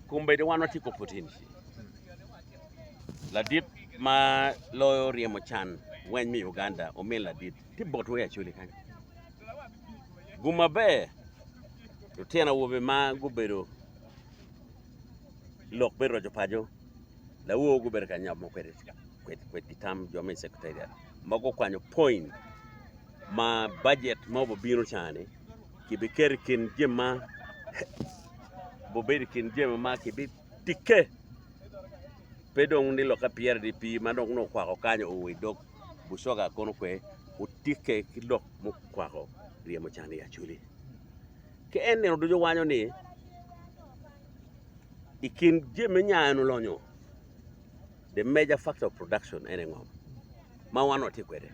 Kombeddi wan watye ka pwoteni ladit ma loyo ryemo can weny me Uganda omin ladit tye bot wer Acholi kany gum maber lutino awobe ma gubedo lok me roco paco lawor gubedo ka nyomo kwede kwedgi tam jo me Secretariat ma gukwanyo point ma bajet ma obibino cani kibiketo i kin jami ma gubedo i kin jami ma kibitikke, pe dong ni lokke pyerre i dye pii ma dong nongo okwako kany oo i dog bucoga kono kwe otikke ki lok mukwako ryemo can i acwali. Ki en nino ducu wanyo ni i kin jami me nya en olonyo the major factor of production ene ngom ma wan watye kwede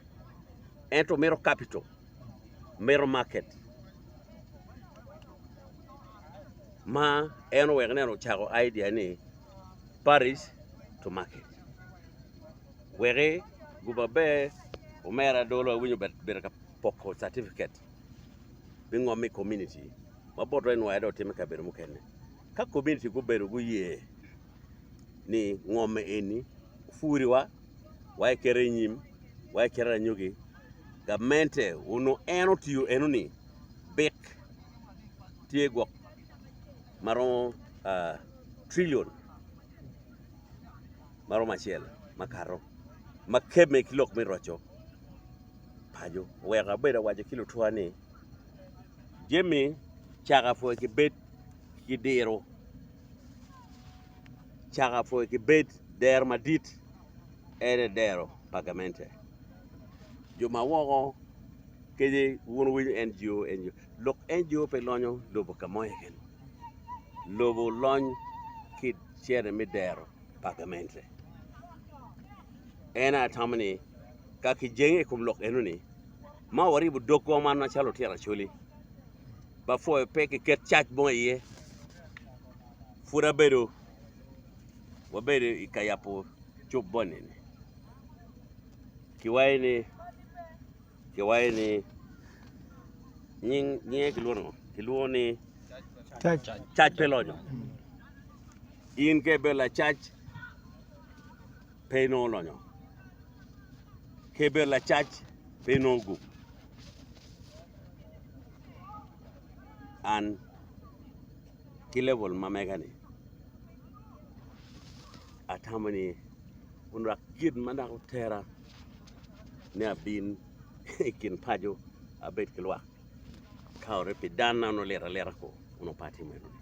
ento mito capital. mito market ma en oweko ni en ocako idea ni Paris to market weki guba maber omera adwola awinyo bene obedo ka poko catipiket me ngom i komuniti ma bot wai nwayo dong otimo i kabedo mukene ka komuniti gubedo guye ni ngom eni opwodwa wa ekete i nyim, wa ekete anyogi, gamente onongo en otiyo eno ni bik tye gwok maromo trillion maromo acel makato ma kebbe ki lok me roco paco. Oweko abedo awaco ki lutwa ni jami caka pwoi ki bed ki diro. caka pwe ki bed dero madit en aye dero pa gamente jo ma woko kadi wun wi NGO lok NGO pe lonyo lobo ka mo iye kene lobo lony ki cene me dero pa gamente en aye atamo ni ka ki jenge ikom lok eno ni Ma waribo dogwa man macalo lutino Acholi ba pwoyo pe ki ket cac mo iye pud abedo wabedo i ka yabo cuk boni ni ki wayo ni ki wayo ni nyinge ki lwongo ngo ki lwongo ni cac pe lonyo in ka ibedo lacac pe inongo lonyo keber lacac pe inongo gup an ki level ma mega ni atamo ni onwak gin ma nongo otera ni abin i kin paco abed ki lwak ka ori pi dan na onongo lit alita ku onongo pe atimo enoni